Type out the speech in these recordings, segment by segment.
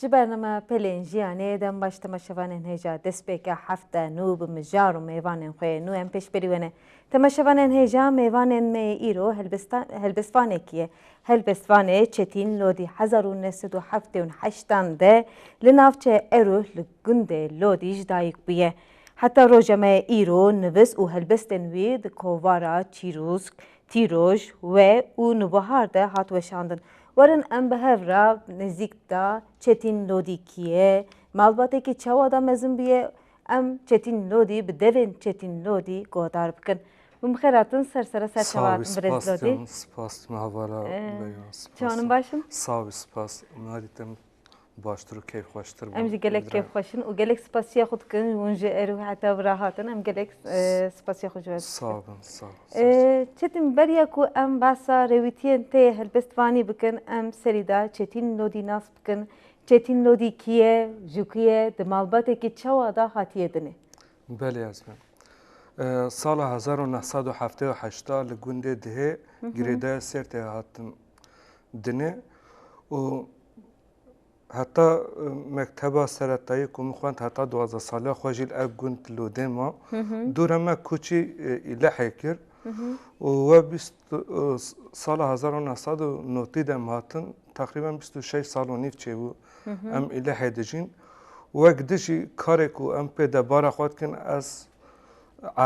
Ji bername Pelên Jiyanê dem baş tema şevanên hêja destpêka hefte nû bi mijar û mêvanên xwe yê nû em pêş berî we ne. Tema şevanên hêja mêvanên me yê îro helbestvanekî ye. Helbestvanê Çetîn Lodî hezar û neh sed û heftê û heşt an de li navçeya Eruh li gundê Lodî ji dayik bûye. Heta roja me yê îro nivis û helbestên wî di kovara Çîrûsk, Tîroj, We û Nûbihar de hat weşandin. Werin em bi hev re nêzîk de Çetîn Lodî kî ye, malbatekî çawa da mezin bûye em Çetîn Lodî bi devên Çetîn Lodî guhdar bikin. Min bi xêr hatin ser sere serçava hatin birêz Lodî. Spas dima vala Leyla. Çawan in baş in? Sağ ol spas. Nadî te min. baştir û keyfxweştir bû. Em jî gelek keyfxweş in û gelek spasiya xwe dikin ji wan ji erû heta vira hatin. Em gelek spasiya xwe ji we dikin. Sağ bin, sağ bin. Çetin beriya ku em behsa rêwîtiyên tê helbestvanî bikin em serî da Çetin Lodî nas bikin. Çetin Lodî kî ye, ji ku ye, di malbatekî çawa da hatiye dinê? Belê ez bin. Sala hezar û neh sed û heftê û heşt da li gundê Dihê girêdaya Sêrtê hatim dinê û Heta mekteba seretayî ku min xwend heta duwazdeh saliya xwe jî li ev gund lûdê ma. Dûre me koçî Îlehê kir û we bîst sala hezar û neh sed û notî de em hatin teqrîben bîst û şeş sal û nîv çêbû em Îlehê dijîn. Wek dijî karê ku em pê debara xwe dikin ez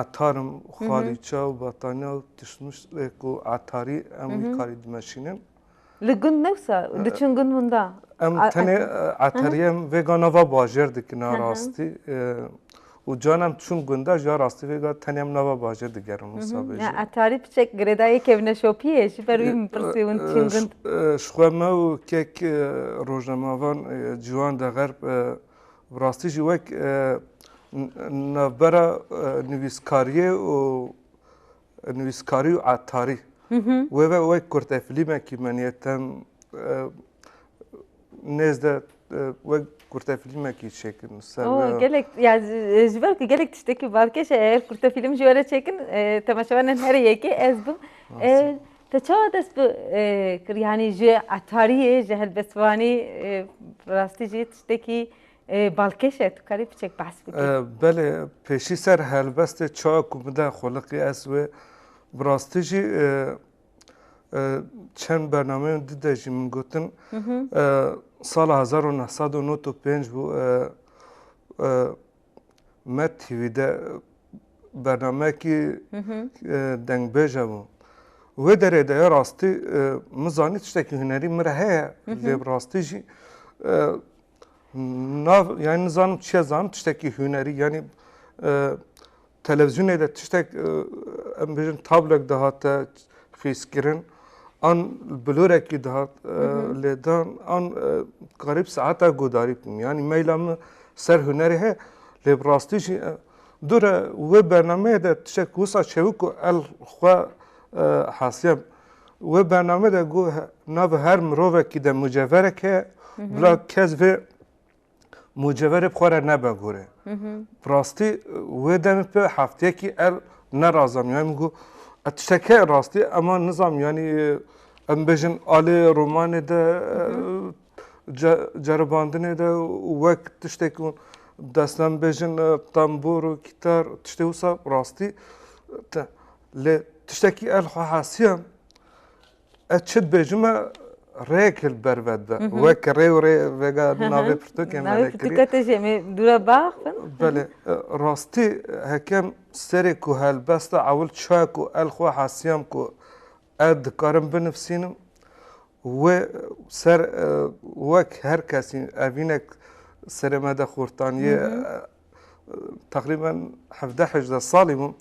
etar im, xalîça û betaniya û tişt mişt ku etarî em wî karî dimeşînin. Li gund newsa diçin gund winda. Em tenê eteriyem vêga nava bajêr dikin a rastî û can em çûn gunde ji rastî vêga tenê em nava bajêr digerin wisa bêje. Ya etarî tu çek girêdayê kevne şopiyê ji ber wî min pirsî hûn diçin gund. Ji xwe me û kek rojnemavan ciwan de xerb bi rastî jî wek navbera nivîskariyê û nivîskarî û etarî. Wê ve wek kurte filîmekî meniye tem nêz de wek kurte filîmekî çêkin li ser we. Gelek ya ji ber ku gelek tiştekî balkêş e eger kurte filîm ji we re çêkin temaşevanên herî yekê ez bim. Te çawa dest bi kir yanî ji etariyê ji helbestvanî bi rastî jî tiştekî Balkêş e, tu karî piçek behs bikî. Belê, pêşî ser helbestê çaya ku bide xweliqî ez wê. Bi rastî jî çend bernameyên din de jî min gotin sala hezar û neh sed û nod û pênc bû Met TV de bernameyekî dengbêj hebû. Wê derê de ya rastî min zanî tiştekî hunerî min re heye lê bi rastî jî Na yani nizanim çiye zan tiştekî hûnerî yanî e, televizyonê de tiştek e, em bêjin tablek dihate xîskirin an bilorekî dihat e, lêdan an karîb saeta godarî bûm yanî meyla min ser hûnerê he lê bi rastî jî dure wê bernameyê de tiştek wisa çewik û el xwe hasiye Wê bername de got navê her mirovekî de muceverek heye bila kes vê muceverê bi xwe re nebe gorê. Bi rastî wê demê pê hefteyekî ev nerazam yanî min got ev tiştek heye rastî ema nizam yanî em bêjin alê romanê de ceribandinê de û wek tiştê ku destnan bêjin tembûr û kîtar tiştê wisa rastî te lê tiştekî ez xwe hesiya ez çi dibêjim me rêyek li ber ve dibe wek rê û rê vêga navê pirtûkên me lê kirî belê rastî hekem serê ku helbesta ewil çaku ez xwe hesiyam ku Ez dikarim binivîsînim wê ser wek her kesî evînek serê me de xurtanîyê teqrîben hevdeh hejdeh salî bûm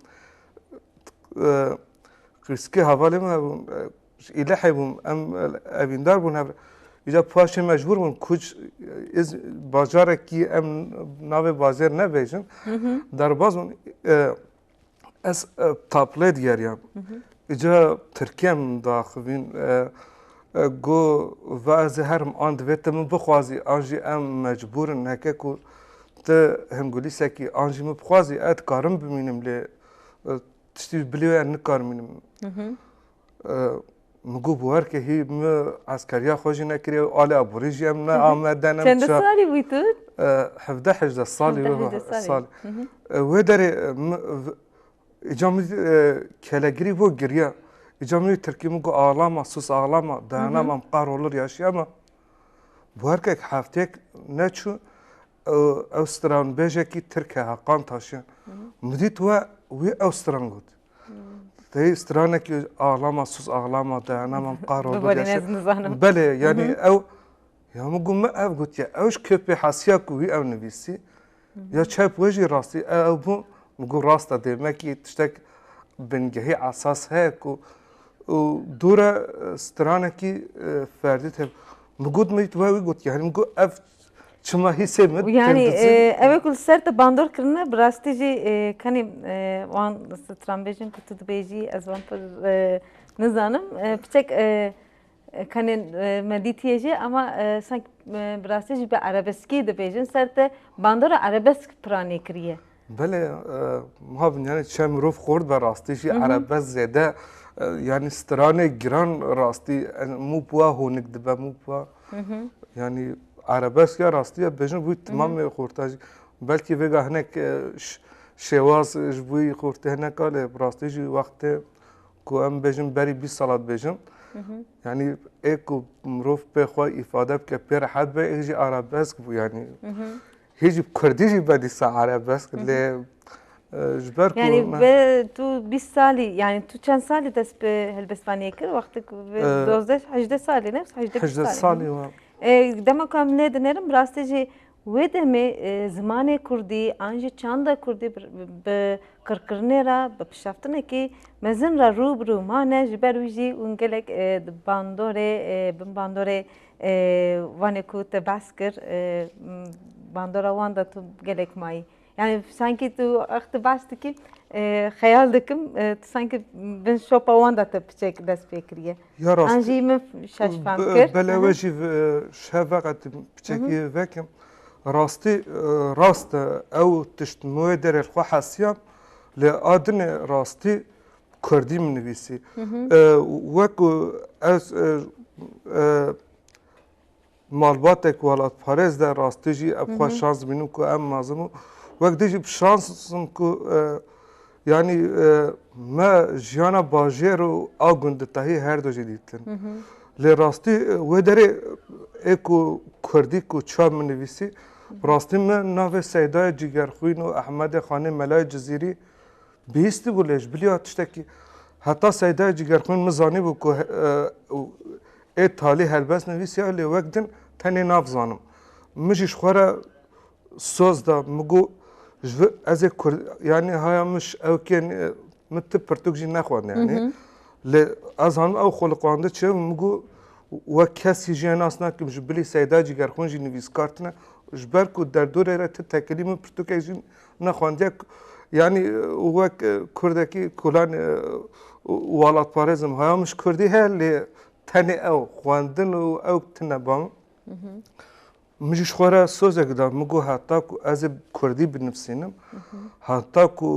qîrskî hevalê min hebûn ji Îlihê bûm em evîndar bûn hev re îcar paşê mecbûr bûn kuc îz bajarekî em navê bajêr nebêjin derbas bûn Ez taplê digeriyam. Îca Tirkiye min diaxivîn got va ez ê herim an divê tu min bixwazî an jî em mecbûr in heke ku tu hingulîsekî an jî min bixwazî ez dikarim bimînim lê tiştî bilê wê ez nikarim mînim. Min got bi wer ke hî min eskeriya xwe jî nekiriye û alê aborî jî em ne Amed'de ne Çend salî bûyî tu? Hevdeh hejdeh salî salî. Wê derê îca min kelegirî bû giriya. Îca min wî tirkî min got axlama sus axlama dayanama em qehrolir yaşiya me. Bi wer kek hefteyek neçû ew stranbêjekî tirk e Heqan Taşyan. Min dît we wî ew stran got. Teyê stranekî axlama siz axlama dayana mam qaro belê yanî ew ya min got min ev gotiye ew ji kepê hesiya ku wî ew nivîsî ya çep we jî rastî ew bû min got rasta dê me kî tiştek bingehî esas heye ku û dûre stranekî ferdî te min got me wî gotiye min got ev Çima hî sê min? Yani ev ku li ser te bandor kirine bi rastî jî kenî wan stranbêjin ku tu dibêjî ez wan pir nizanim. Piçek kenê me dîtiye jî ema sank bi rastî jî bi erebeskî dibêjin ser te bandora erebesk piranî kiriye. Belê ma bin yani çem mirov xort ve rastî jî erebes zêde yani stranê giran rastî mû puwa honik dibe mû puwa yani erebes ya rastî ya bêjin bûî timamê xorta jî belkî vêga hinek şêwaz ji bûî xortê hinek a lê rastî jî wextê ku em bêjin berî bîst sala dibêjin yani ê ku mirov pê xwe îfade bike pê rehet be ê jî erebesk bû yani Hê jî kurdî jî be dîsa arabesk lê ji ber ku Yanî me- bi tu bîst salî yanî tu çend salî dest bi helbestaniyê kir wextê ku bi Eh. dozdeh hejdeh salî ne hejdeh hejdeh salî. salî wa E, dema ku em lê dinêrin bi rastî jî wê demê e, zimanê kurdî an jî çanda kurdî bi bi qirkirinê re bi piştevtinekî mezin re rû bi rû mane ji ber wî jî hûn gelek e di bandorê e bin bandorê Wanê ku te behs kir bandora wan de tu gelek mayî. Yani sankî tu ex tu behs dikî xeyal dikim tu sankî bin şopa wan de te piçek dest pê kiriye. Ya rast. An jî min şaş fam kir. Bela we jî şev veqetim piçekî vekim. Rastî rast e ew tişt mûyê derê li xwe hesiya lê a dinê rastî Kurdî min nivîsî. Wek ku ez malbatek welatparêz de rastî jî ev xwe şans bînim ku em mazim û wek dê jî bi şansim ku yanî me jiyana bajêr û a gundî tahî her du jî dîtin. Lê rastî wê derê ê ku Kurdî ku çav min nivîsî rastî min navê Seydayê Cîgerxwîn û Ehmedê Xanê Melayê Cizîrî Bihîstî bû lê ji biliya tiştekî heta Seydayê Cîgerxwîn min zanîbû ku ê talî helbest nivîsiya lê wek din tenê nav zanim. Min jî ji xwe re soz da min got ji vir ez ê kurd yanî haya min ji ewkê min tib pirtûk jî nexwend yanî lê ez zanim ew xwe li qande çi min got wek kesî jê nas nakim ji bilî Seyda Cîgerxwîn jî nivîskar tune ji ber ku derdorê re ti tekilî min pirtûkek jî Nexwandiya yanî wek kurdekî kulan walatparêzim haya min ji kurdî heye lê tenê ew xwendin û ew tune ban. Min jî ji xwe re sozek da min got heta ku ez ê kurdî binivîsînim heta ku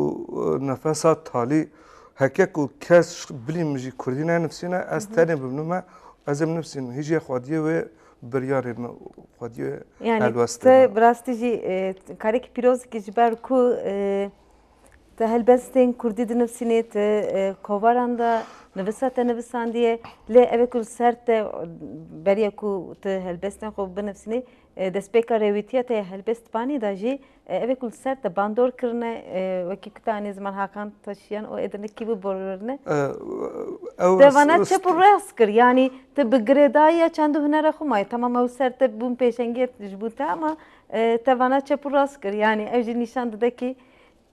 nefesa talî heke ku kes bilî min jî kurdî nenivîsîne ez tenê bimnime ez ê binivîsînim hîjî ya xwediyê wê biryarê me û xwediyê Yani helwest te têne. bi rastî jî e, karekî pîrozikî ji ber ku e, te helbestên kurdî dinivîsînê te e, kovaran de nivisa te nivisandiye lê ev ê ku li ser te e, beriya ku te helbestên xwe binivîsînê e, destpêka rêwîtiya te ya helbest panî de jî Evê ku li ser te bandor kirine wekî ku te anî ziman Hakan Taşiyan û êdî nikî biborîne. Te vana çep û rêst kir yanî te bi girêdayîya çend û hunera xwe mayî temam ew ser te bûn pêşengiyê ji bo te ama te vana çep û rast kir yanî ew jî nîşan dide kî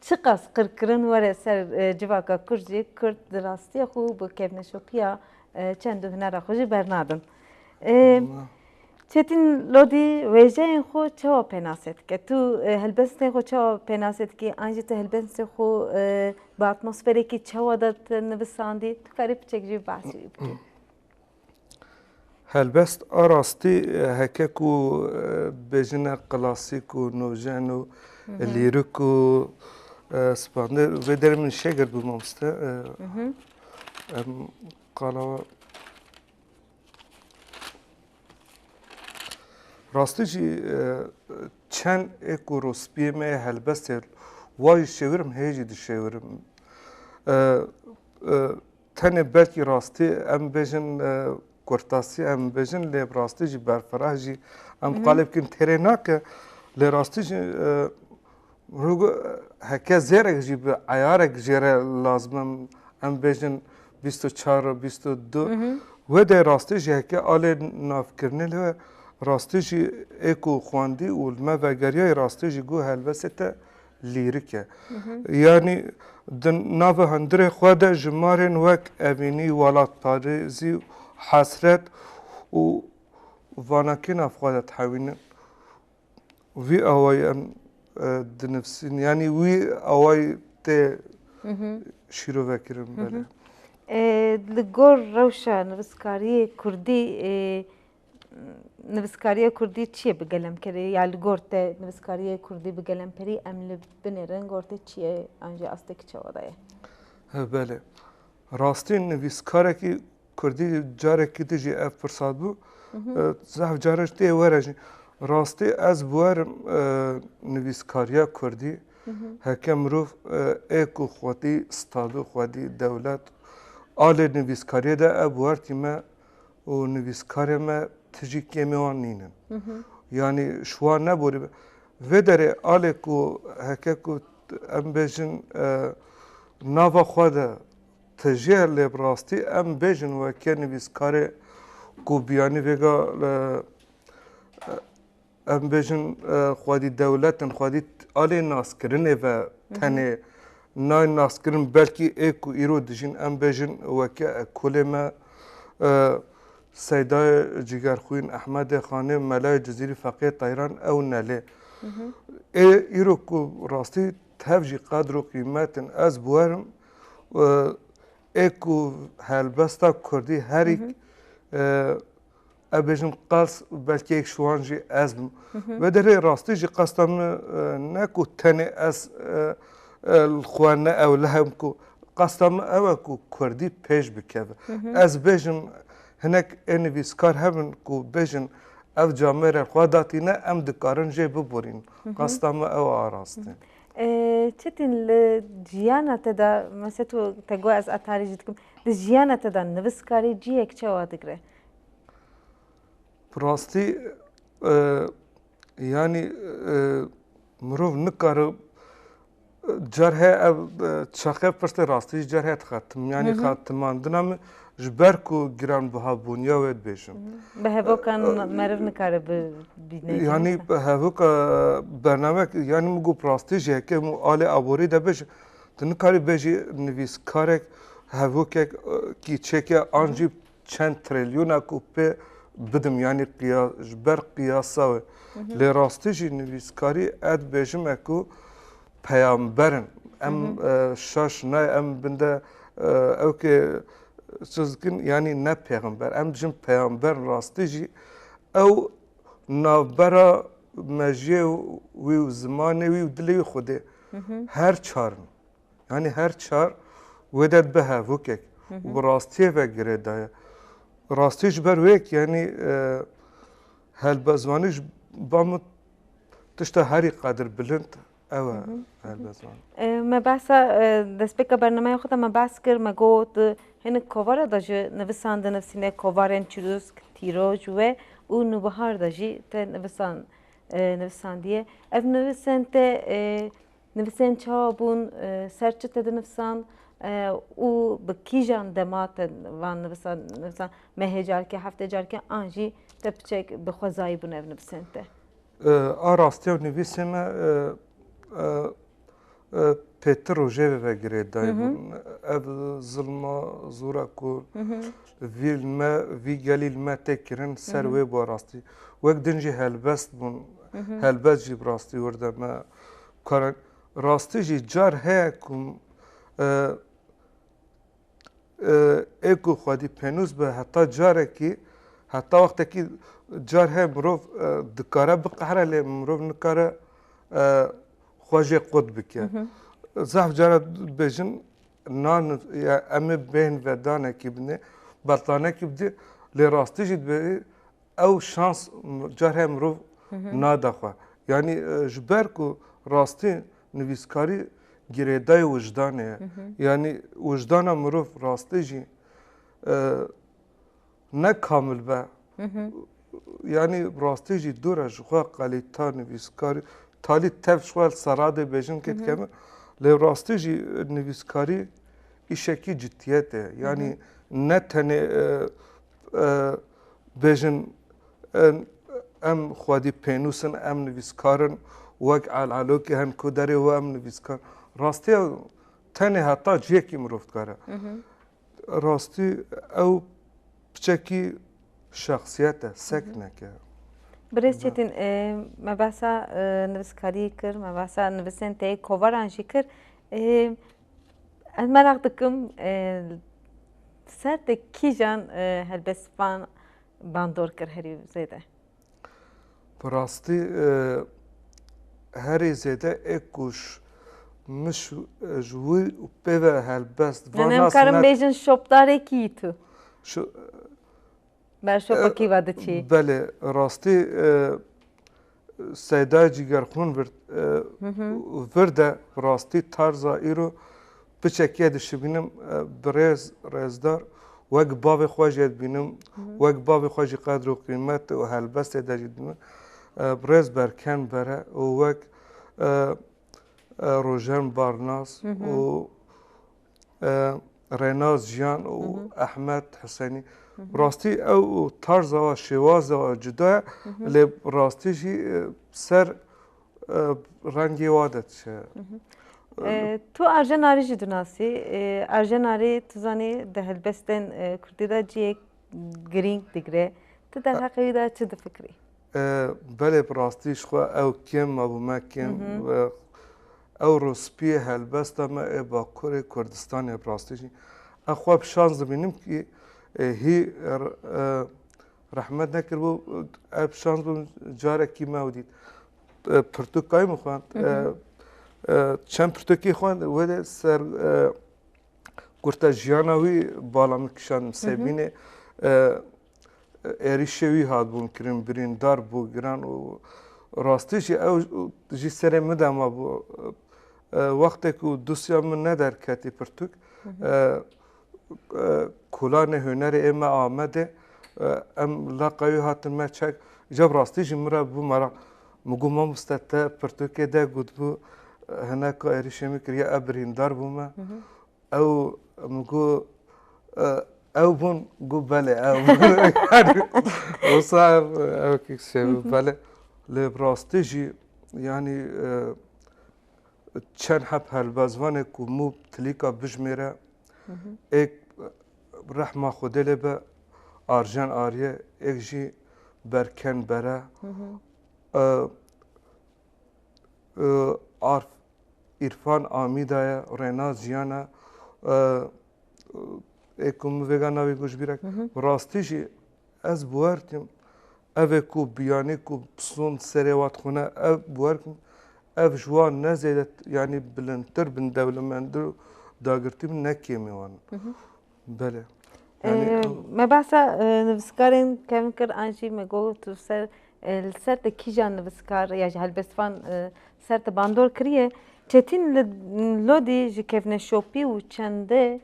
çiqas qirkirin were ser civaka kurd jî kurd di rastîya xwe û bi kevneşopiya çend û hunera xwe jî bernadin. Çetîn Lodî wêjeyên xwe çawa pênasê dike? Tu helbestên xwe çawa pênasê dikî an jî tu helbestên xwe bi atmosferekî çawa de nivisandî? Tu karî piçek jî behsî wî bikî. Helbest a rastî heke ku bêjine klasîk û nûjen û lîrik û spandê vê derê min şêgirt bû mamoste. Em qala Rastî jî çend ê ku rospiyê me yê helbest ye wa jî şêwirim hê jî dişêwirim. Tenê belkî rastî em bêjin kurtasî em bêjin lê bi rastî jî berfireh jî em qalê bikin têrê nake lê rastî jî Rûgo heke zêrek jî bi eyarek jê re lazimim em bêjin bîst û çar û bîst û du wê de rastî jî heke alê navkirinê li rastî jî ê ku xwendî û li me vegeriyayî rastî jî goh helbestê te lîrik e. Yanî di nava hundirê xwe de ji marên wek evînî, welatparêzî, hesret û vanakîna bi xwe de dihewînin. vî awayî em dinivîsîn yanî wî awayî tê şîrovekirin belê. Li gor rewşa nivîskariyê kurdî nivîskariya kurdî çi ye bi gelemkerê ya li gor te nivîskariya kurdî bi gelemperî em li binê re li gor te çi ye an jî astekî çawa daye? Belê rastî nivîskarekî Kurdî carekî din jî ev pirsa bû. Zehf cara ji tê were jî. Rastî ez bi wer im nivîskariya Kurdî heke mirov ê ku xwedî stado, xwedî dewlet alê nivîskariyê de ev bi wer tî me û nivîskarê me ti jî kêmê wan nîn in. Yanî ji wan neborî be. Vê derê alê ku heke ku em bêjin nava xwe de Ti jê lê bi rastî em bêjin weke nivîskarê ku biyanî vêga em bêjin xwedî dewletin xwedî alê naskirinê ve tenê nayê naskirin belkî ê ku îro dijîn em bêjin weke ekolê me Seydayê Cîgerxwîn, Ehmedê Xanê, Melayê Cizîrî, Feqiyê Teyran ew nelê. Ê îro ku rastî Tev jî qedr û qîmetên ez biwerim û ê ku helbesta kurdî herî ev bêjim qels belkî yek ji wan jî ez bim. Vê derê rastî jî qesta min ne ku tenê ez li xwe ne ewlehe bim ku qesta min ew e ku kurdî pêş bikeve. Ez bêjim hinek ê nivîskar hebin ku bêjin ev camêrên xwe datîne em dikarin jê biborînin. Qasta me ew araste. Çetin li jiyana te de mesela tu te got ez etarî jî dikim. Di jiyana te de nivîskarî cihek çawa digire? Bi rastî yanî mirov nikare Cerhe ev çaxe pirsên rastî ji cerhe dixetim. Yanî xetimandina min ji ber ku giranbihabûniya wê dibêjim. Bi hevokan meriv nikare bibîne. Yanî hevoka bernamek yanî min got rastî jî heke hemû alê aborî de bêjim. Tu nikarî bêjî nivîskarek hevokek kîçeke an jî çend trilyona ku pê bidim yanî qiya ji ber qiyasa we lê rastî jî nivîskarî ez dibêjime ku peyamberin em şaş nayê em binde ew kê siz dikin yanî ne pêxember em dijin peyamberin rastî jî ew navbera mejiyê wî û zimanê wî û dilê wî xwedê her çarin Yanî her çar wêde dibe hevokek û bi rastiyê ve girê daye. Rastî ji ber wêk yanî e, helbezwanî ji ba min tişta herî qadir bilind ew e helbezwan. E, me behsa e, destpêka bernameya xwe de me behs kir me got e, hinek kovara de jî nivisan de nivîsîne kovarên çirûsk, tîroj we û nûbihar de jî te nivisan e, nivisandiye. Ev nivisên te e, Nivîsên çawa bûn, ser çi tê dinivisan û bi kîjan dema te van nivisan nivisan mehê carkê heftê carkê an jî te piçek bi xwezayî bûn ev nivisên te? A rastiya nivîsê me pêtir û jêrê re girê daybûn. Ev zilma zora ku vî li me vî gelî li me tê kirin ser wê bû rastî. Wek din jî helbest bûn, helbest jî bi rastî wir de me karin. Rastî jî car heye ku ê ku xwedî pênûs be heta carekî heta wextekî car heye mirov dikare biqehre lê mirov nikare xwe jê qut bike. Zehf cara dibêjin nan ya em ê bên vedanekî binê, bertanekî bidê lê rastî jî divê Ew şans carî heye mirov nade xwe. Yanî ji ber ku rastî nivîskarî girêdayê wijdanê ye. Yanî wijdana mirov rastî jî ne kamil be yanî bi rastî jî dûr e ji xwe qelîta nivîskarî talî tev ji xwe li ser radê bêjin kê dike min lê bi rastî jî nivîskarî îşekî cidîyetê ye. Yanî ne tenê bêjin em xwedî pênûs in, em nivîskar in, wek Elalokê hen ku derê we em nivîskar in. Rastiya tenê heta cihekî mirov dikare. Rastî ew piçekî şexsiyet e, seknek e. Birêz Çetin, me behsa nivîskariyê kir, me behsa nivîsên tê kovaran jî kir. Ez merak dikim ser de kîjan helbestvan bandor kir herî zêde? Bi rastî herî zêde ê ku min ji wî û pê ve helbest va nas. Em karin bêjin şopdarekî yî tu. Ber şopekî ve diçî. Belê rastî Seyda Cîgerxûn vir de bi rastî tarza îro bi çekiye dişibînim bi rêz rêzdar wek bavê xwe jê dibînim wek bavê xwe jî qedr û qîmet û helbestê de jî dibînim bi rêz berken bere û wek rojen barnas û Renaz Jiyan û Ehmed Husênî. Rastî ew tarza we şêwaza we cuda ye lê bi rastî jî ser rengê wa de diçe. Tu Arjen Arî jî dinasî. Arjen Arî tu zanî di helbestên kurdî de cihê girîng digire. Tu derheqê wî de çi difikirî? Belê bi rastî ji xwe ew kêm ma bi me kêm ew rûspiyê helbesta me ê Bakurê Kurdistanê bi rastî jî ew xwe bi şans dibînim kî hî rehmet nekiribû ev bi şans bûm carekî me ew dît pirtûkayî min xwend çend pirtûkî xwend wê dê ser gurta jiyana wî bala min kişand Sêbînê êrîşê wî hatbûn kirin, birîndar bû giran û rastî jî ew jî serê min de mabû. Wextê ku dosya min nederketî pirtûk, kolanê hunerê ê me Amedê em laqa wî hatin me çek. Îcar bi rastî jî min re bû merak. Min got mamoste te pirtûkê de gotbû hinek êrîşê min kiriye ev birîndar bû me. Ew min got ew bûn got belê wisa ew kişê min belê lê bi rastî jî yanî çend heb helbestvanê ku mû bi tilîka bijimêre êk rehma xwedê lê be arjen ariyê êk jî berken bere arf Îrfan Amîda ye, Rêna Jiyan e ê ku min vêga navê goji bîra kir. Bi rastî jî ez bi wer dikim ev ê ku biyanî ku pisûn serê we dixwîne ev bi wer dikim ev ji wan ne zêde yanî bilindtir bin dewlemendir û dagirtî bin ne kêmî wan in. Belê. Me behsa nivîskarên kevn kir an jî me got tu li ser li ser te kîjan nivîskar ya ji helbestvan ser te bandor kiriye. Çetîn li Lodî ji kevneşopî û çendê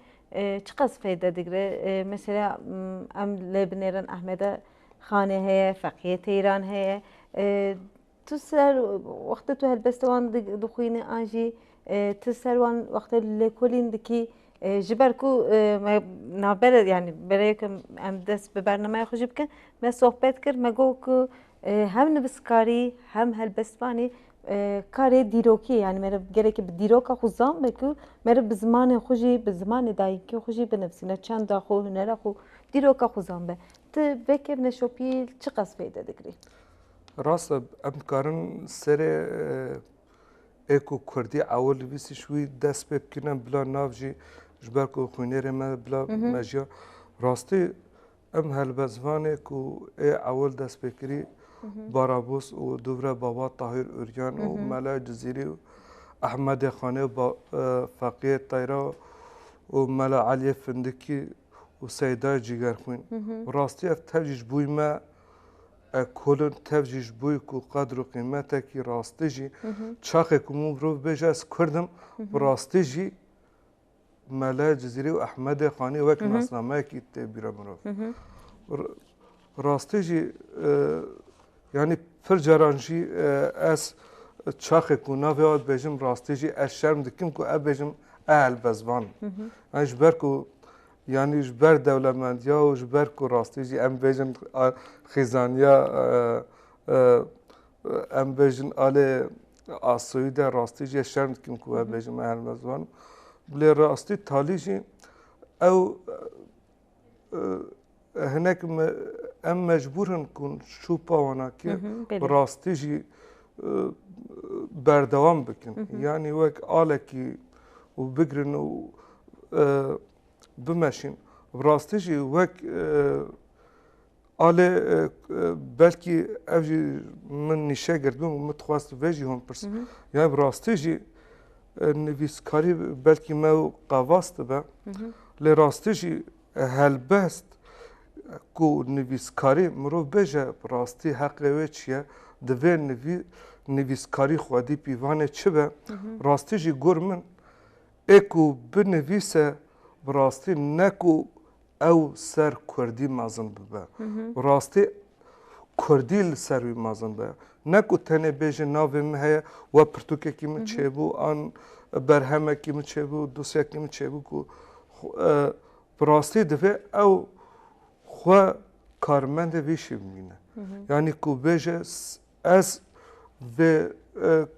çiqas feyde digire. Mesela em lê binêrin Ehmede Xanê heye, Feqiyê Teyran heye. Tu ser wextê tu helbeste wan dixwînî an jî tu ser wan wextê lêkolîn dikî ji ber ku me navbere yanî berê ku em dest bi bernameya xwe jî bikin me sohbet kir me got ku hem nivîskarî hem helbestvanî karê dîrokî yanî mere gelekî bi dîroka xwe zam be ku mere bi zimanê xwe jî bi zimanê dayîkê xwe jî binivîsîne çanda xwe hunera xwe dîroka xwe zam be. Ti vekevne şopî çiqas feyde digirî? Rast e, em dikarin serê ê ku Kurdî ew nivîsî ji wî dest pê bikin em bila nav jî ji ber ku xwînêrê me bila mejiya rastî em helbe zivanê ku ê ewil dest pê kirî Barabûs û dûvre baba Tahîr Urgan û Mele Cizîrî û Ehmedê Xanê û Feqiyê Teyra û Mele Eliyê Findikî û Seydayê Cîgerxwîn. Rastî ev tev jî ji bo me Ekolun tev jî ji bo ku qedr û qîmetekî rastî jî çaxê ku min mirov bêje ez kurd im bi rastî jî Mele Cizîrî û Ehmedê Xanî wek nasnameyekî tê bîra mirov. Bi rastî jî yanî pir caran jî ez çaxê ku navê wan dibêjim rastî jî ez şerm dikim ku ev bêjim ehelbezvan im. Ji ber ku Yanî ji ber dewlemendiya û ji ber ku rastî jî em bêjin xêzaniya em bêjin alê asoyî de rastî jê şerm dikim ku we bêjin me her mezwanim. Bilê rastî talî jî ew hinek em mecbûr hin ku şûpa wana kir rastî jî berdewam bikin yanî wek alekî û bigirin û bimeşîn bi rastî jî wek alê belkî ev jî min nîşe girdbûn min dixwest vê jî hûn pirsim ya bi rastî jî nivîskarî belkî me û qevas dibe lê rastî jî Helbest ku nivîskarî mirov bêje bi rastî heqê wê çi ye, divê nivîskarî xwedî pîvanê çi be. Rastî jî gor min ê ku binivîse bi rastî ne ku ew ser kurdî mezin bibe. Bi rastî kurdî li ser wî mezin be. Ne ku tenê bêje navê min heye we pirtûkekî min çêbû an berhemekî min çêbû dosyekî min çêbû ku Bi rastî divê ew xwe karmendê vî îşê bimîne. Yanî ku bêje ez vê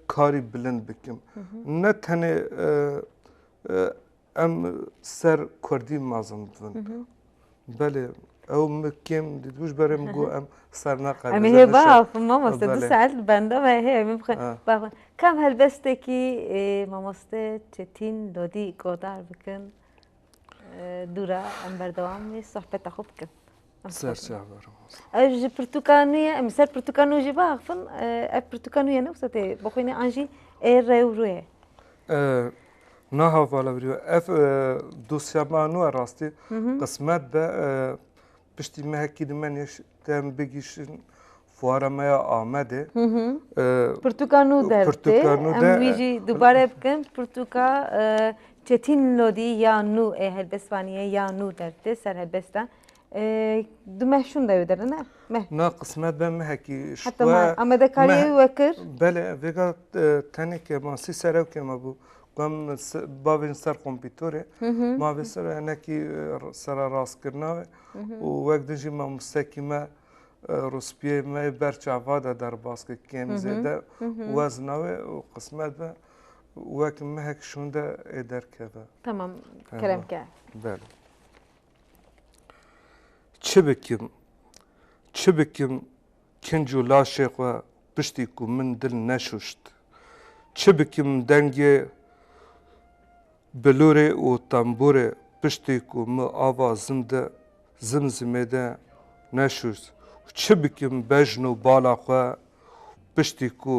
karî bilind bikim. Ne tenê em ser kurdî mezin dibin. Belê ew min kêm dîtibû ji ber min got em ser naqedin. Em ê hê biaxivin mamoste du saet li benda me hê em ê biaxivin. Kam helbestekî mamoste Çetîn Lodî guhdar bikin dû re em berdewam ê sohbeta xwe bikin. Ez ji pirtûkaniyê em ê ser pirtûkaniyê jî biaxivin ev pirtûkaniyê ne wisa tê bixwîne an jî ê rewrûyê. Naha vala viriyo ev dosya ma nu e rastî qismet be piştî mehekî di men yeş tem bigîşin fuara me ya Amedê Pirtûka nû der Pirtûka nû der em wî jî dubare bikin Pirtûka Çetin Lodî ya nû ê helbestvaniyê ya nû der tê ser helbesta Du meh şûn dewê derine meh. Na qismet be mehekî Heta meh Amede kariyê wî wekir. Belê vêga tenêke ma sî serewkê me bû. Gam bavê min ser kompîtorê ma vê ser hinekî sera rastkirina ve û wek din jî mamosekî me rûspiyê me yê ber çava de derbas kir kêm zêde wezna wê û qismet be wek mehek şûn de ê derkeve. Tamam kerem ke. Belê. Çi bikim? Çi bikim kinc û laşê xwe piştî ku min dil neşûşt? Çi bikim dengê bilûrê û tembûrê piştî ku min ava zim de zim zimê de neşûşt? Çi bikim bejn û bala xwe Piştî ku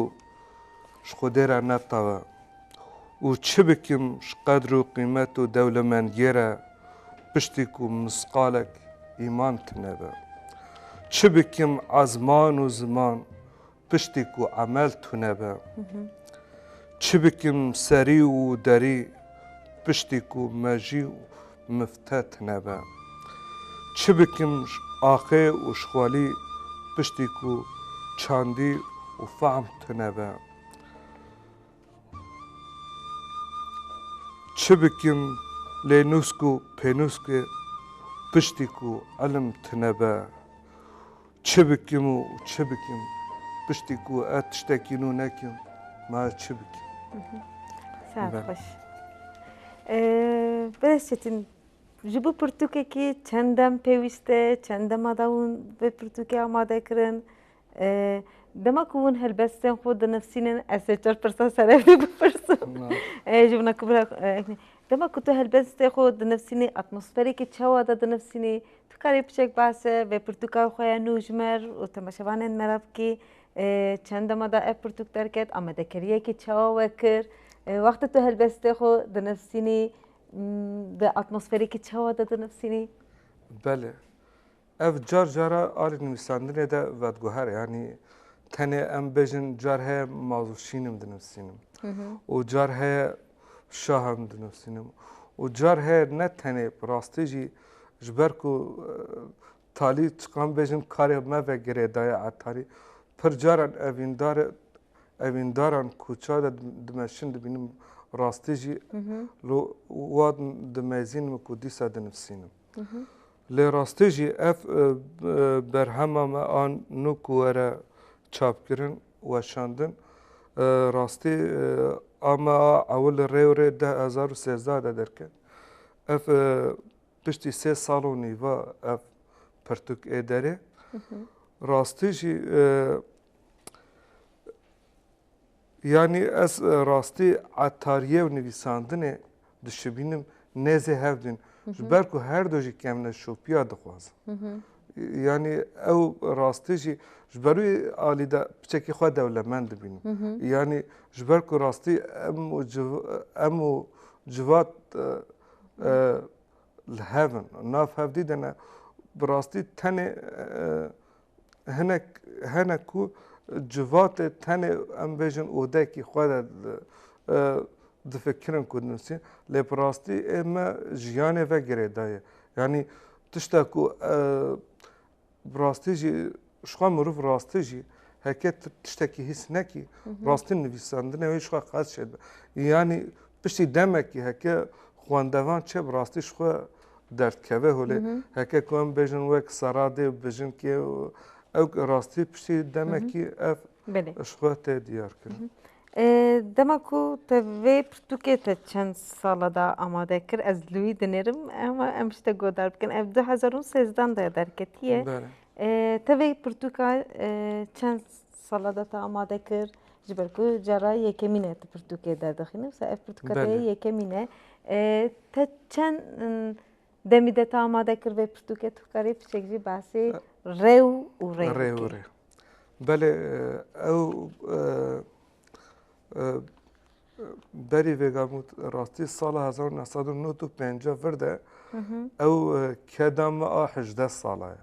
ji xwedê re netawe û çi bikim ji qedr û qîmet û dewlemendiyê re piştî ku misqalek îman tunebe? Çi bikim ezman û ziman piştî ku emel tunebe? Çi bikim serî û derî piştî ku mejî û mifte tine be. Çi bikim ji aqê û ji xwelî piştî ku çandî û fehm tine be. Çi bikim lê nûsk û pênûskê piştî ku ilim tine be. Çi bikim û çi bikim? Piştî ku ez tiştekî nû nekim, ma ez çi bikim? Saet xweş. Birêz Çetin, ji bo pirtûkekî çend dem pêwîst e, çend dema da hûn vê pirtûkê amade kirin? Dema ku hûn helbestên xwe dinivîsînin ez sê çar pirsa sere vê bipirsim. Ji wan ku dema ku tu helbestê xwe dinivîsînî atmosferekî çawa de dinivîsînî? Tu karî piçek behse vê pirtûka xwe ya nû ji mer û temaşevanên me re bikî. Çend dema da ev pirtûk derket amadekeriyekî çawa we kir? Wexta tu helbestê xwe dinivîsînî di atmosferekî çawa de dinivîsînî? Belê. Ev car cara alî nivîsandinê de vediguhere yanî tenê em bêjin car heye mazûşînim dinivîsînim û car heye şah em dinivîsînim û car heye ne tenê bi rastî jî ji ber ku talî çiqan bêjin karê me ve girêdaye etarî pir caran evîndar evîndaran kûça de dimeşin dibînim rastî jî lo wa dimezîn min ku dîsa dinivîsînim lê rastî jî ev berhema me an nû ku were çapkirin weşandin. Rastî ame a ew li Rewrê deh hezar û sêzdeh de derket. Ev piştî sê sal û nîva ev pirtûk ê derê. Rastî jî yanî ez rastî etariyê û nivîsandinê dişibînim nêzê hevdî in. Ji ber ku her du jî kevneşopiya dixwazin. Yanî ew rastî jî ji ber wî alî de piçekî xwe dewlemend dibînim. Yanî ji ber ku rastî em û em û civat li hev in. Nav hevdî de ne bi rastî tenê hinek hene ku civatê tenê em bêjin odekî xwe de difikirin ku dinusîn lê bi rastî ê me jiyanê ve girêdaye. Yanî tişta ku bi rastî jî jixwe mirov rastî jî heke tu tiştekî hîs nekî rastî nivîsandinê wê jixwe qas çêdibe. Yanî piştî demekî heke xwendevan çê bi rastî jixwe derd keve holê heke ku em bêjin wek seradê bi jinkê ew rastî piştî demekî ev ji xwe tê diyar kirin. Dema ku te vê pirtûkê te çend sala de amade kir ez li wî dinêrim hema em ji te guhdar bikin ev du hezar û sêzdan de derketiye te vê pirtûka çend Sala de te amade kir ji ber ku cara yekemîn e tu pirtûkê derdixînî wisa ev pirtûka te yê yekemîn e. Te çend demî de te amade kir vê pirtûkê tu dikarî piçek jî behsê rê û rê bikî. Rê û rê. Belê ew berî vê gamût rastî sala hezar û neh sed û nod û pêncî vir de ew keda me a hejdeh sala ye.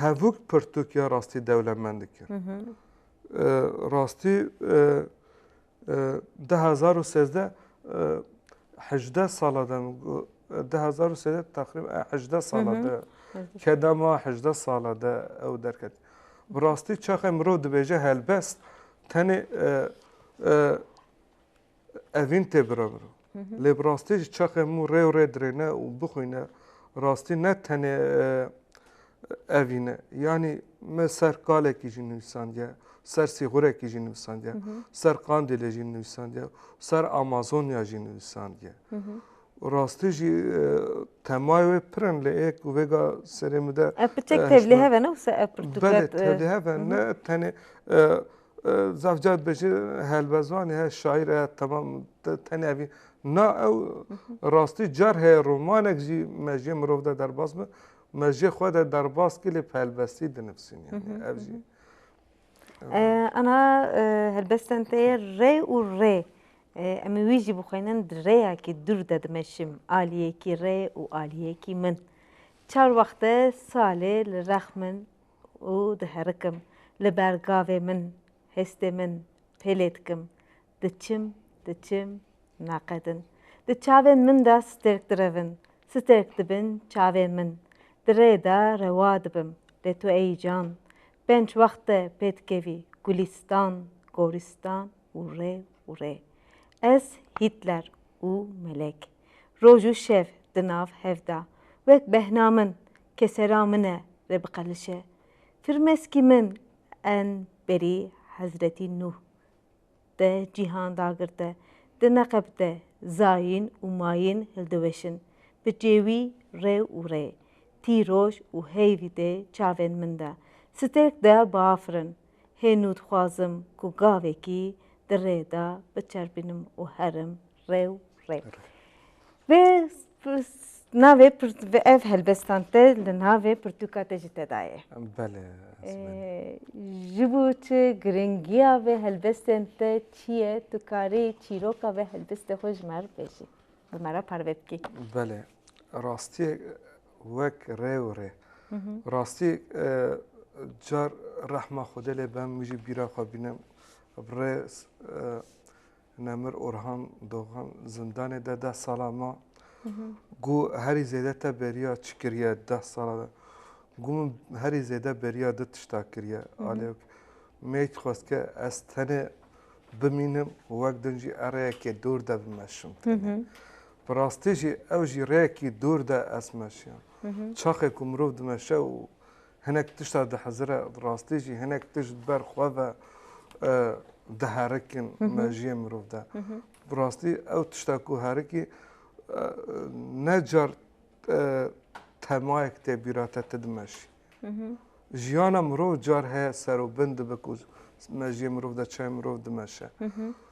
hevûk pirtûkê rastî dewlemend dikir. Rastî di hezar û sêzdeh hejdeh sala de min got di hezar û sêzdeh teqrîben hejdeh sala de kedema hejdeh sala de ew derket. Bi rastî çaxê mirov dibêje helbest tenê Evîn tê bireviro. Lê bi rastî jî çaxê mû rê û rê dirêne û bixwîne rastî ne tenê evîn e. Yanî min ser kalekî jî nivîsandiye, ser sîxurekî jî nivîsandiye, ser Qandîlê jî nivîsandiye, ser Amazonya jî nivîsandiye. Û rastî jî temayê wê pir in lê ê ku vêga serê min de. Ev pirtêk tevlî hev e ne wisa ev pirtûket. Belê tevlî hev e ne tenê Zafca dibêje helbezanê he, şaîr e temam tenê evî na ew rastî car heye romanek jî mejiyê mirov de derbas bi mejiyê xwe de derbas kî lê helbestî dinivîsîn yanî ev jî. Ana helbestên te yê rê û rê em ê wî jî bixwînin di rêyekî dûr de dimeşim aliyekî rê û aliyekî min. Çar wexte salê li rex min û diherikim, li ber gavê min, hêstê min pêlê dikim, diçim, diçim, naqedin. Di çavên min de stêrk direvin, stêrk dibin çavên min. Di rê de rewa dibim, lê tu ey can, pênc wexte pê dikevî gulîstan, gorîstan û rê û rê. Ez Hîtler û Melek, roj û şev di nav hev de, wek behna min, ke sera min e rê biqelişe. Firmeskî min en berî Hezretî Nuh de cîhan dagirte, di neqeb de zayîn û mayîn hildiweşin, bi cêwî rê û rê, tîroj û heyvî tê çavên min de, stêrk de biafirin. Hênû dixwazim ku gavekî di rê de biçerpînim û herim Rê û rê. Vê navê ev helbestan te li navê pirtûka te jî te dayê. Belê. Ji bo tu giringiya vê helbestên te çi ye, tu karî çîroka vê helbestê xwe ji me re bibêjî. Bi me re parve bikî. Belê. Rastiyê wek rê û rê. Rastî car rehma Xwedê lê be min jî bîra xwe bîne. Bi rê Nemir Orhan Dogan zindanê de deh sala ma. Gu herî zêde te beriya çi kiriye deh sala de? Gu min herî zêde beriya du tişta kiriye. Alê me dixwest ke ez tenê bimînim û wek din jî ez rêyekê dûr de bimeşim. Bi rastî jî ew jî rêyekî dûr de ez meşiyam. Çaxê ku mirov dimeşe û Hinek tişta dihezire, rastî jî hinek tişt di ber xwe ve diherikin mejiyê mirov de. Bi rastî ew tişta ku herikî ne car temayek tê bîra te ti dimeşî. Jiyana mirov car heye ser û bin dibe ku mejiyê mirov de çayê mirov dimeşe.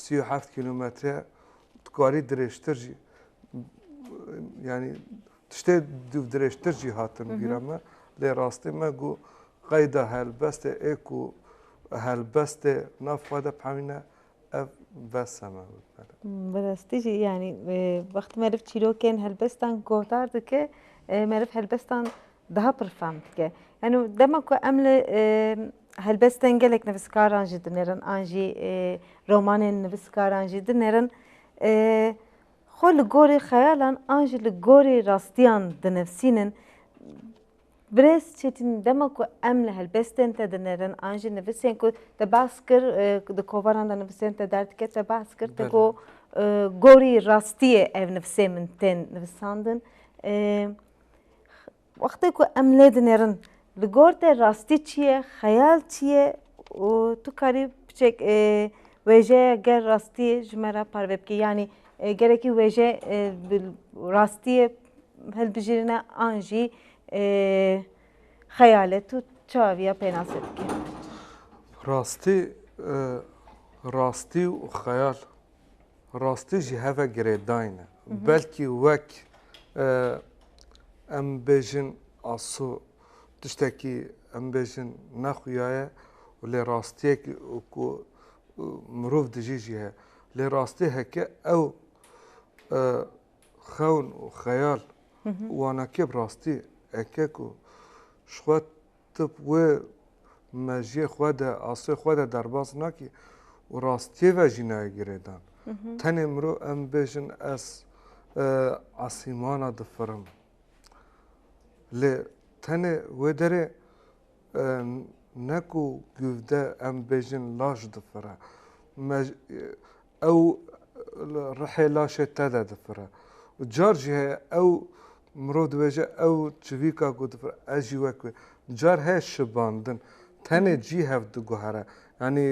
sî û heft kîlometre ye dikarî dirêjtir jî yanî tiştê dirêjtir jî hatin bîra me lê rastî me got qeyda helbestê ê ku helbestê nav xwe de pemîne ev vesa me got bere. Bi rastî jî yanî wextî meriv çîrokên helbestan guhdar dike meriv helbestan Daha pir fehm dike. Yanî dema ku em li helbestên gelek nivîskaran jî dinêrin an jî romanên nivîskaran jî dinêrin xwe li gorî xeyalan an jî li gorî rastiyan dinivîsînin birêz Çetîn dema ku em li helbestên te dinêrin an jî nivîsên ku te behs kir di kovaran de nivîsên te derdikeve te behs kir te got gorî rastiyê ev nivîsên min tên nivîsandin Wextê ku em lê dinêrin li gor te rastî çi ye, xeyal çi ye û tu karî piçek wêjeya ger rastî ji me re parve bikî yanî gerekî wêje bi rastiyê hilbijêrine an jî xeyal e tu çawa vêya pênasê dikî. Rastî, rastî û xeyal rastî jî heve girêdayîn e. Belkî wek em bêjin aso tiştekî em bêjin nexuya ye û lê rastiyekî ku mirov dijî jî heye. Lê rastî heke ew xewn û xeyal wana kê bi rastî heke ku ji xwe tu wê mejiyê xwe de, asê xwe de derbas nakî û rastiyê ve jî nayê girêdan. Tenê mirov em bêjin ez esîmana difirim. Lê tenê wê derê ne ku givde em bêjin laş difire. Ew li rihê laşê te de difire û car jî heye ew mirov dibêje ew çivîka ku difire ez jî wek wê. Car heye şibandin tenê cî hev diguhere. Yanî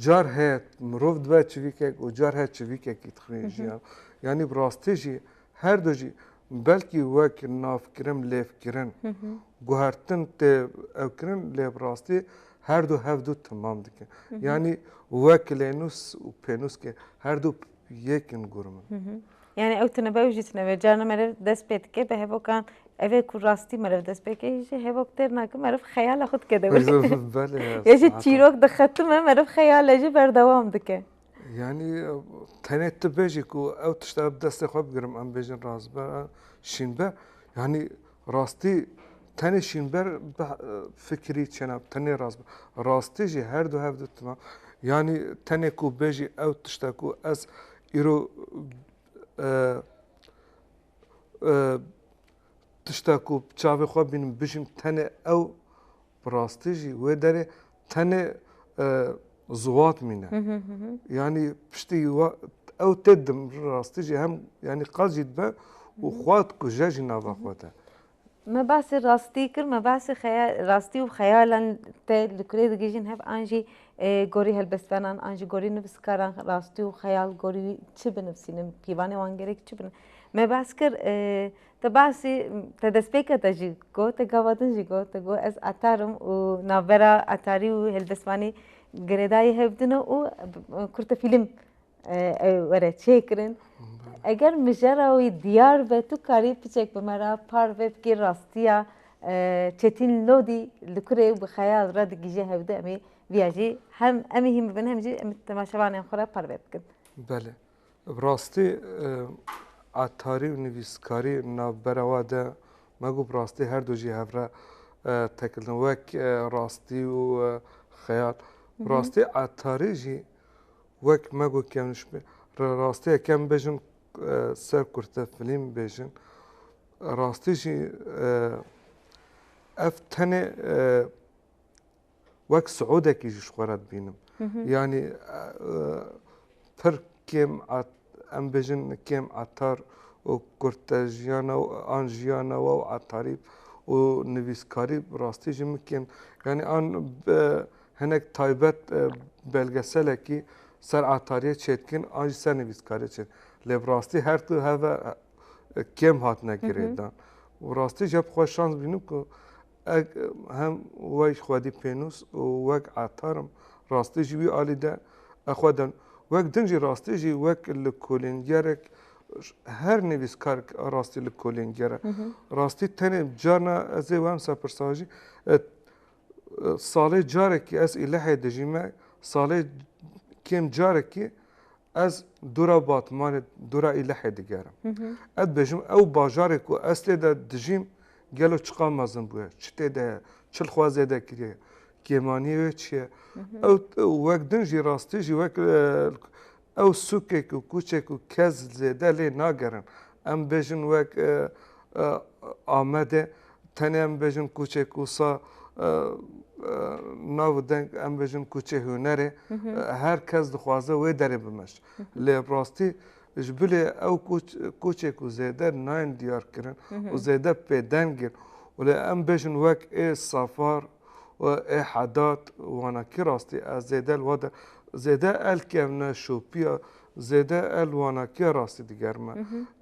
car heye mirov dibe çivîkek û car heye çivîkekî dixwîne jî hev. Yanî bi rastî jî her du jî Belkî wek navkirin lêvkirin guhertin tê ewkirin lê bi rastî her du hev du timam dikin. Yanî wek lênûs û pênûskê her du yek in gurim in. Yani ew tine be ew jî tine be. Carna meriv dest pê dike bi hevokan ev ê ku rastî meriv dest pê bike jî hevok têr nake meriv xeyala xwe dike dewr. Ya jî çîrok dixetime meriv xeyala jî berdewam dike. Yanî tenê tu bêjî ku ew tişta bi destê xwe bigirim em bêjin razber a şînber yanî rastî tenê şînber bi fikirî çêna tenê razber rastî jî her du hev ditima yanî tenê ku bêjî ew tişta ku ez îro tişta ku çavê xwe bînim bijîm tenê ew Bi rastî jî wê derê tenê ziwat mîne. Yanî piştî ew tê dim bi rastî jî hem yanî qal jî dibe û xwe dikuje jî nava xwe de. Me basê rastî kir, me basê xeyal rastî û xeyalan te li kurê digihîjin hev an jî gorî helbestvanan an jî gorî nivîskaran rastî û xeyal gorî çi binivîsînin pîvanê wan gerek çi bine. Me bas kir Te bahsî te destpêka te jî got, te gava din jî got, te got ez etar im û navbera etarî û hêlbestvanî girêdayî hev din e û kurte fîlm ew were çêkirin. Eger mijara wî diyar be tu karî piçek bi me re parve bikî rastiya Çetîn Lodî li kurê û bi xeyal re digihîje hev din em ê vîya jî hem em ê hîn bibin hem jî em ê temaşevanên xwe re parve bikin. Belê. Bi rastî atarî û nivîskarî navbera we de me got bi rastî her du jî hev re tekildin wek rastî û xeyal. Bi rastî atarî jî wek me got kevnişbî re rastî yek em bêjin ser kurte filîm bêjin rastî jî ev tenê wek siûdekî jî ji xwe re dibînim. Yanî pir kêm em bijin kêm atar û kurtejiyana an jiyana we û atarî û nivîskarî bi rastî jî min kêm yanî an bi hinek taybet belgeselekî ser atariyê çêdikin an jî ser nivîskariyê çêdikin. Lê bi rastî her du heve kêm hatine girêdan. Rastî jî hep xwe şans bînim ku Eg hem wek xwedî pênûs û wek etar im, rastî ji wî alî de e xwe dem. Wek din jî rastî jî wek lêkolîngerek her nivîskarek a rastî lêkolînger e. Rastî tenê carna ez ê wemsa pirsa jî salê carekî ez Îlihê dijî me salê kêm carekî ez dûra Batmanê dûra Îlihê digerim. Ez dibêjim ew bajarê ku ez tê de dijîm Gelo çiqa mezin bûye, çi tê de ye, çi li xwe zêde kiriye, kêmanî wê çi ye. Ew wek din jî rastî jî wek ew sûkek û kûçek û kes zêde lê nagerin. Em bêjin wek Amedê tenê em bêjin kûçê Kûsa nav û deng em bêjin kûçê hunerê. Her kes dixwaze wê derê bimeşt. Lê rastî Ji bilê ew koçê ku zêde nayên diyarkirin û zêde pêdeng in û lê em bêjin wek ê Safar û ê Hedat wana kî rastî ez zêde li we de zêde el kevne şopiya zêde el wana kî rastî digerime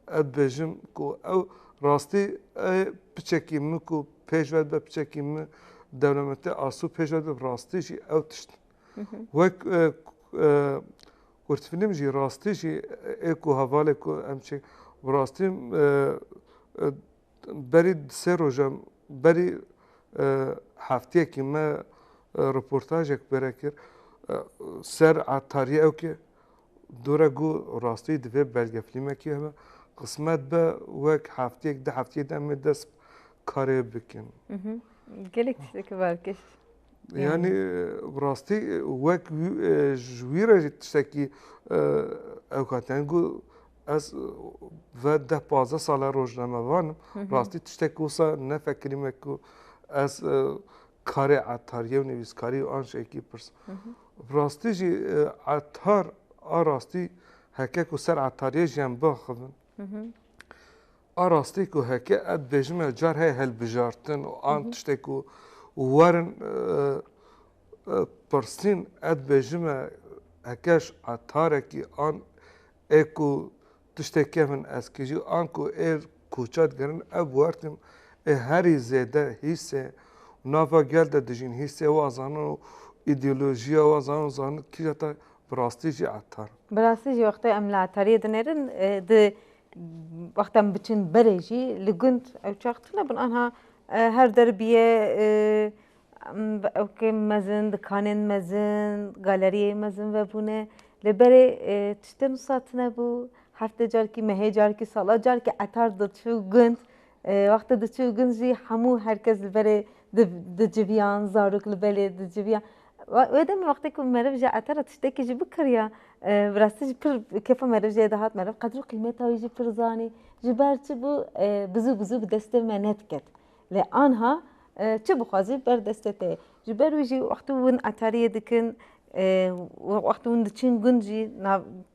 ez dibêjim ku ew rastî ê piçekî min ku pêş ve dibe piçekî min dewlemendtê Asû pêş ve dibe rastî jî ew tişt wek Kurtfîlm jî rastî jî ê ku hevalê ku em çê bi rastî berî di sê roja berî hefteyekî me reportajek pê re kir ser etarî ew ke dore ku rastî divê belgefîlmekî hebe qismet be wek hefteyek du hefteyê de em ê dest bi karê bikin. Gelek tiştekî bav kir. Yanî bi rastî wek ji wî re jî tiştekî ew ka teng û ez ve deh pazdeh sal e rojnamevan im bi rastî tiştek wisa nefekirî me ku ez karê etariyê û nivîskarî û an şekî pirs bi rastî jî etar a rastî heke ku ser etariyê jiyan biaxivin A rastî ku heke ev dibêjin me car heye hilbijartin û an tiştê ku werin pirsîn ev dibêjin me heke ji etarekî an ê ku tiştê kevin ez kijî an ku ê koça digerin ev wertîn ê herî zêde hîsê nava gel de dijîn hîsê wa zanin û îdeolojiya wa zanin û zanin kîja te bi rastî jî etar in. Bi rastî jî wextê em li etariyê dinêrin di Wexta em biçin berê jî li gund ew çax tune bin anha her derbiyê ewkên mezin, dikanên mezin, galeriyên mezin vebûne li berê tiştên wisa tune bû. Heftê carkî, mehê carkî, sala carkî etar diçû gund. Wextê diçû gund jî hemû her kes li berê diciviyan, zarok li belê diciviyan. Wê demê wextê ku meriv ji ete re tiştekî jî bikiriya bi rastî jî pir kêfa meriv jê dihat meriv qedr û qîmeta wî jî pir zanî. Ji ber çi bû bizû bizû bi destê me nediket. Lê anha çi bixwazî ber destê te ye. Ji ber wî jî wextê ku hûn etariyê dikin wextê hûn diçin gund jî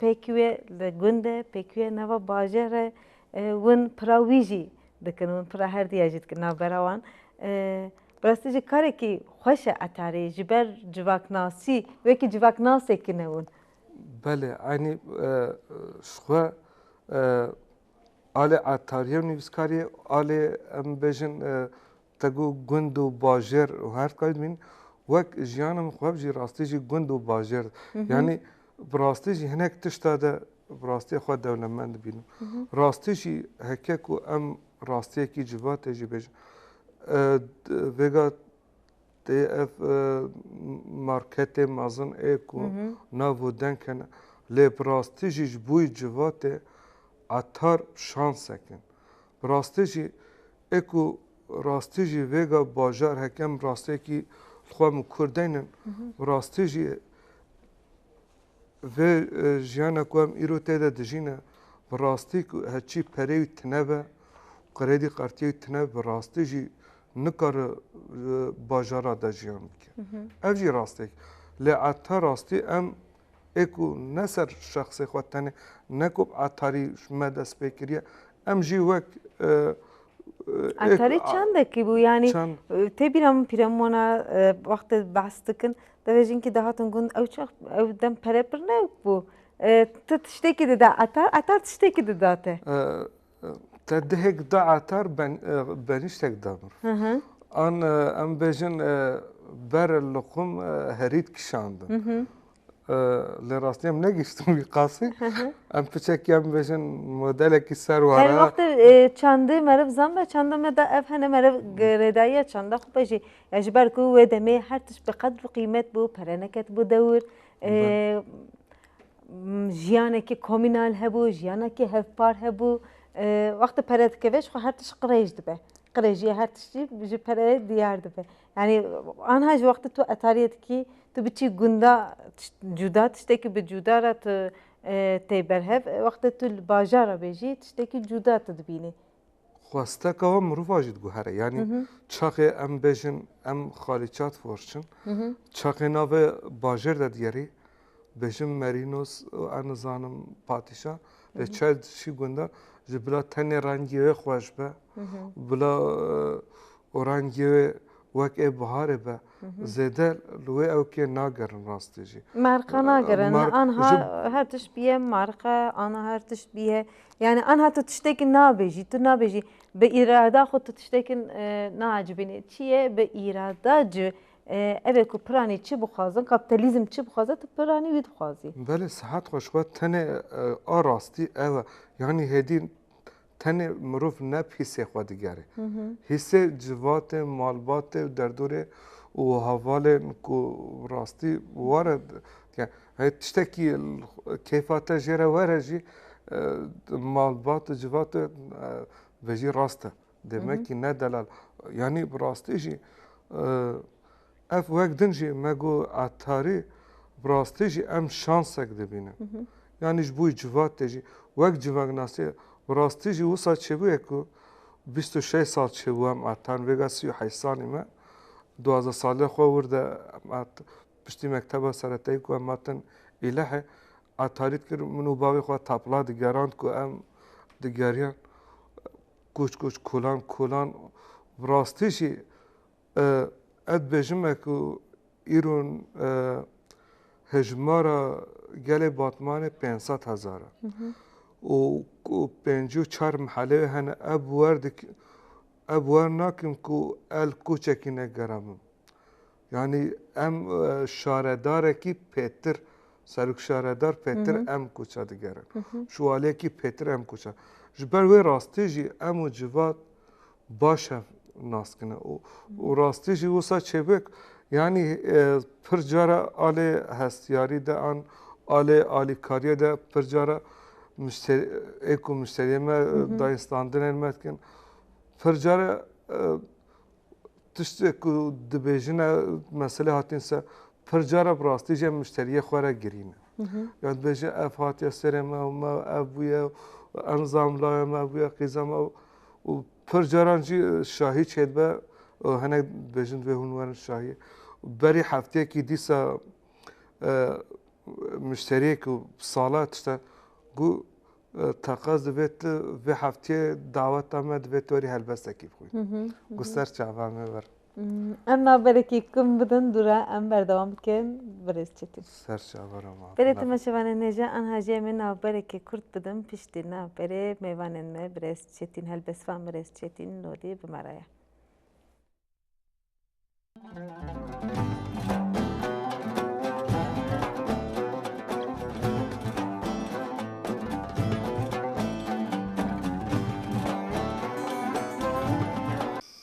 pêk wê li gund e pêk wê nava bajêr e Win pira wî jî dikin, win pira her diya jî dikin navbera wan. Bi rastî jî karekî xweş e etarê ji ber civaknasî wekî civaknasekî ne win. Belê eynî ji xwe alê etarî ye û nivîskarî ye alê em bêjin Te got gund û bajêr û her tika dibîn wek jiyana min xweb jî rastî jî gund û bajêr yanî bi rastî jî hinek tişta de bi rastî xwe dewlemend dibînim. Rastî jî heke ku em rastiyekî civa tê jî bêjin vêga tê ev marketê mezin ê ku nav û deng hene lê bi rastî jî ji bo wî civa tê etar şansek in. Bi rastî jî E ku rastî jî vêga bajar heke em rastiyekî li xwe min kûr deynin û rastî jî vê jiyana ku em îro tê de dijîn e bi rastî ku heçî perê wî tune be qredî qartiyê wî tune bi rastî jî nikare bajara de jiyan bike. Ev jî rastiyek lê heta rastî em ê ku ne ser şexsê xwe tenê ne ku Etarî me dest pê kiriye em jî wek Etarî çendekî bû yanî tê bîra min pîremona wextê behs dikin devê jinkî dihatin gund ew çax ew dem pere pir ne bû tu tiştekî dida etar etar tiştekî dida te. Te dihek da atar ben beniştek da mir. An em bejin ber luqum herît kişandin. Lê rastî em negiştin wî qasî. Em piçekî em bejin modelekî ser wara. Her wextê çandê meriv zam be çanda me da ev hene meriv girêdayiya çanda xwe be jî. Ya ji ber ku wê demê her tişt bi qedr û qîmet bû, pere neketibû dewr. jiyanekî komînal hebû, jiyanekî hevpar hebû. Wextê pere dikeve jixwe her tişt qirêj dibe. Qirêjiya her tiştî ji pereyê diyar dibe. Yanî anha ji wextê tu etariyê dikî tu biçî gunda cuda tiştekî bi cuda re tu tê berhev wextê tu li bajar re bêjî tiştekî cuda tu dibînî. xwesteka we mirovan jî diguhere. Yanî çaxê em bêjin em xalîçat forçin. Çaxê navê bajêr de digerî bêjin merînos û ez nizanim patîşa lê çay dişî gunda ji bila tenê rengî wê xweş be bila rengê wê wek ê biharê be. zêde li wê ewkê nagerin rastî jî. Merqa nagerin anha her tişt bîye merqa anha her tişt bîye yanî anha tu tiştekî nabêjî tu nabêjî bi îrada xwe tu tiştekî naecibînî çi ye bi îrada ci ev ê ku piranî çi bixwazin kapîtalîzm çi bixwaze tu piranî wî dixwazî. Belê sihet xweş we tenê a rastî ew e yanî hêdî Tenê mirov ne bi hîsê xwe digere. Hîsê civatê, malbatê û derdorê û hevalên ku bi rastî were digere. Heyî tiştekî keyfa te jê re were jî malbat û civat e vejî rast e. Demekî ne delal. Yanî bi rastî jî Ev wek din jî me got Etarî bi rastî jî em şansek dibînin. Yanî ji bo civatê jî wek civaknasî bi rastî jî wisa çêbûye ku bîst û şeş sal çêbû em Etarîn vêga sî û heşt salî me duwazdeh saliya xwe wir de piştî mekteba seretayî ku em hatin Îlihê Etarî dikir min û bavê xwe tapla digerand ku em digeriyan koç koç kolan kolan bi rastî jî Ez dibêjim ku îro hejmara gelê Batmanê pênc sed hezar e û ku pêncî û çar mehele wê hene ev wer nakim ku el koçekî negerabim. Yanî em şaredarekî pêtir serokşaredar pêtir em koça digerin. Ji waliyekî pêtir em koça. Ji ber wê rastî jî em û civat Baş e naskine û û rastî jî wisa çêbik yanî pir cara alê hestiyarî de an alê alîkariyê de pir cara muşterî ê ku muşteriyê me dayê standinên me dikin pir cara tiştê ku dibêjine meselê hatîn ser pir cara bi rastî jî em muşteriyê xwe re girîne. Ya dibêje ev hatiye serê me û me ev bûye û em zam laya me bûye qîza me û pir caran jî şahî çêdibe û hinek dibêjin divê hûn werin şahiyê. Berî hefteyekî dîsa e, müşteriyek û sala tişte gû e, teqez divê tu vê heftiyê daweta me divê tu werî helbestekî bixwî. Gû ser çava me ver. Em naberekî kum bidin dûre em berdewam bikin birêz çetî. Ser çaver ama. Berê tu me şevanên hêja an hajiyê min naberekî kurt bidin piştî na berê mêvanên me birêz çetîn helbesvan birêz çetîn lolî bi me re ye.